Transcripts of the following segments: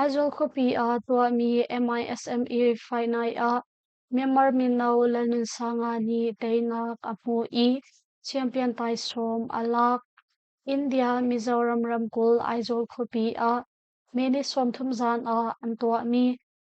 Aizawl khuapi ah tuahmi MISME fainai ah Myanmar mino Lalnunsanga nih teinak a hmuh i champion taisawm a lak. India Mizoram ramkulh Aizawl khuapi ah mee ni sawmthum zan ah an tuahmi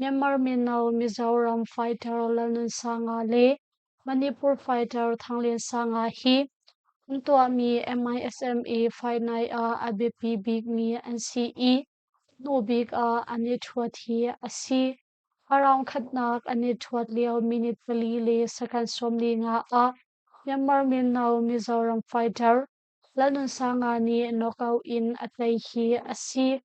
Myanmar mino Mizoram fighter Lalnunsanga le Manipur fighter Thangliansanga hi an tuahmi MISME fight night ah a biapi bikmi an si i hnu bik ah an i thuat hi a si. A raunkhatnak an i thuat lio minute pali le second sawm li nga ah Myanmar mino Mizoram fighter Lalnunsanga nih knockout in a tlaih hi a si.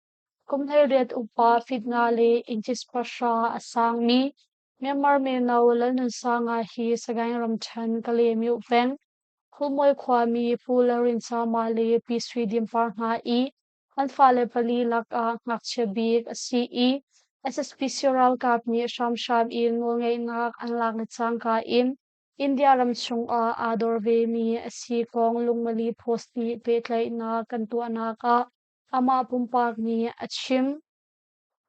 Kum hleiriat upa fitnga le inchis pahra a sangmi Myanmar mino Lalnunsanga hi Sagaing ramṭhen Kalaymyo peng Khumui khuami Pu Laurinsama le Pi Sui Dimpar hna i an fale pali lakah ngakchia bik a si i SSP sio ralkap nih hramhram in nawlngeihnak an lak le cangka in India ram chungah aa dor vemi a si kong lungmali post nih pehtlaihnak kan tuahnak ah Amah pumpak nih a chim.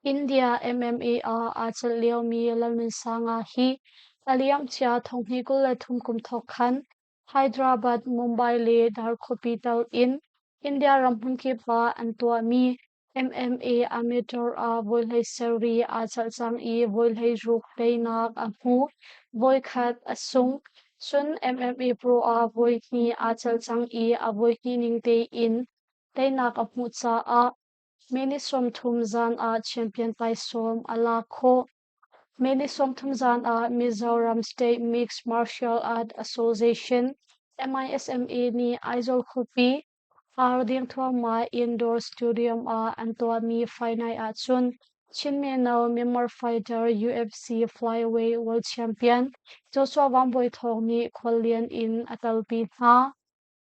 India MMA ah aa celh liomi Lalnunsanga hi a liamcia thonghni kul le thum kum thawk khan Hyderabad, Mumbai le Darkhopi tal in India ram hmunkip ah an tuahmi MMA amateur ah voihlei sarri aa celh cang i voihlei ruk teinak a hmu. Voikhat a sung. Cun MMA pro ah voihnih aa celh cang i a voihnih ning tein Teinak a hmuh caah meni sawmthum zan ah champion taisawm a lak khawh. Meni sawmthum zan ah Mizoram State Mixed Martial Art Association MISMA nih Aizawl khuapi ar ding thluahmah indoor stadium ah an tuahmi final ahcun Chin mino Myanmar fighter UFC flyweight world champion Joshua Wang Boi Thawng nih khuallian in a talpi hna.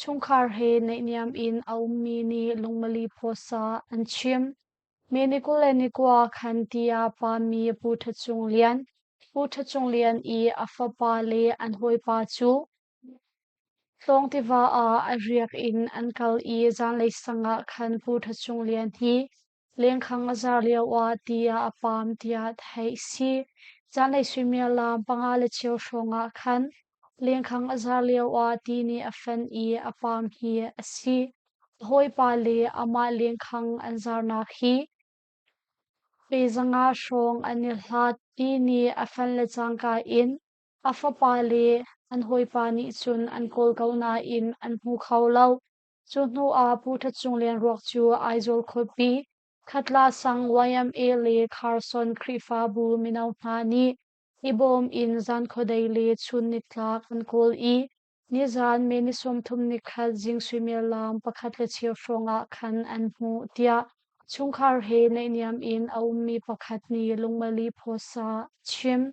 Chungkhar he naihniam in a ummi nih lungmali phuasa an chim. Mi ni kul le ni kua khan tiah pami Pu Ṭha Cung Lian, Pu Ṭha Cung Lian i a fapa le an hawipa cu Tlawng tiva ah a riak in an kal i zanlei sang ah khan Pu Ṭha Cung Lian hi Lengkhang a zar lioah tiah a paam tiah theih si. Zanlei suimilam panga le cheu hrawngah khan lengkhang a zar lioah ti nih a fenh i a paam hi a si. A hawipa le amah lengkhang an zarnak hi pe zanga hrawng an i hlat ti nih a fenh le cangka in a fapa le an hawipa nih cun an kawl ko nain an hmu kho lo. Cu hnu ah Pu Ṭha Cung Lianruak cu Aizawl khuapi, Khatla sang YMA le Kharsawn Khrihfabu mino hna nih i bawm in zankhuadei le chun nitlak an kawl i nizan May ni sawmthum ni khat zing suimel laang pakhat le cheu hrawng ah khan an hmuh, tiah chungkhar he naihniam in a ummi pakhat nih lungmali phaw sa a chim.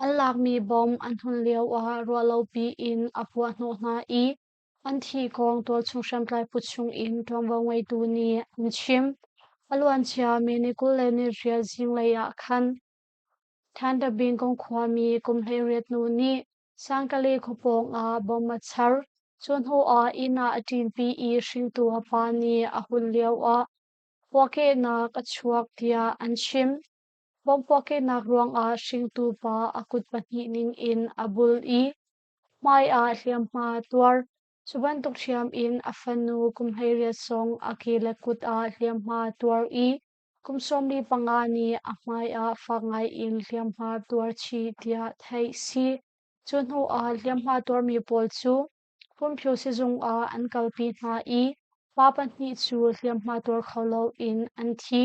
An lakmi bom an hnon lioah ruahlopi in a puahhnawh hna i an thikawng tualchung hriamtlai put chungin ṭuanvo ngeitu nih an chim. A luancia May ni kul le ni riat zinglei ah khan Thandabingkong khuami kum hleiriat nu nih Sangkale khua pawngah bom a char. Cu hnuah inn ah a ṭinpi i hringtu a pa nih a hun lioah puahkehnak a chuak tiah an chim. Bomhpuahkehnak ruangah hringtu pa a kut pahnih ningin a bul i hmaiah hliamhma a tuar. Cu bantuk hriam in a fanu kum hleiriat sawng a ke le kut ah hliamhma a tuar i kum sawmli panga nih a hmaiah fak ngaiin hliamhma a tuar chih tiah theih a si. Cu hnuah hliamhma tuarmi pawl cu furmhio sizung ah an kalpi hna i pa pahnih cu hliamhma tuar kho loin an thi.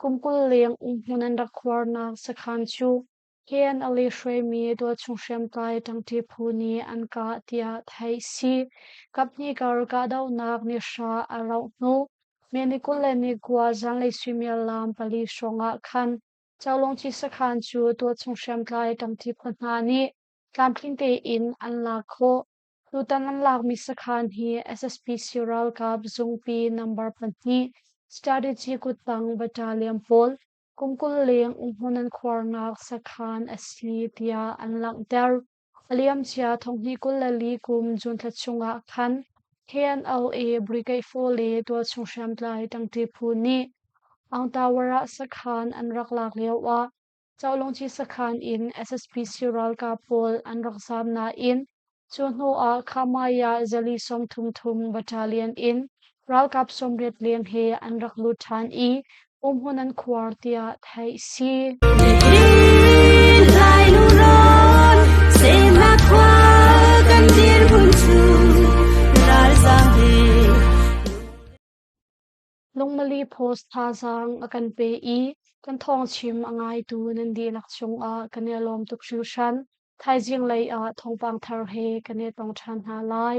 Kum kul leng umhmun an rak khuarnak sakhan cu Ken a li hruaimi tualchung hriamtlai ṭangṭi phu nih an kah tiah theih a si. Kaphnih kar kahdohnak nih hra a rauh hnu May ni kul le ni kua zanlei suimiallam pali hrawngah khan Chalawngci sakhan cu tualchung hriamtlai ṭangṭi phu hna nih tlamtling tein an lak khawh. Tutan an lakmi sakhan hi SSPC ralkap zungpi number pahnih Strategy kuttang battalion pawl kum kul leng umhmun an khuarnak sakhan a si tiah an langhter. A liamcia thonghnih kul le li kum Juntha chungah khan KNLA Brigade 4 le tualchung hriamtlai ṭangṭi phu nih Angtawar ah sakhan an rak lak lioah Cawlungci sakhan in SSP sii ralkap pawl an rak zaam nain cu hnu ah Khamaya zali sawmthum thum battalion in ralkap sawmriat leng he an rak lut ṭhan i umhmun an khuar tiah theih a si. Nihin lai lurawn semnak khua kan dirhmun cu ralzaam he Lungmali post thazaang a kan pe i kan thawngchim a ngaitu nan dihlak chungah kan i lawm tuk hringhran. Thaizing lei ah thawngpang thar he kan i tong ṭhan hna lai.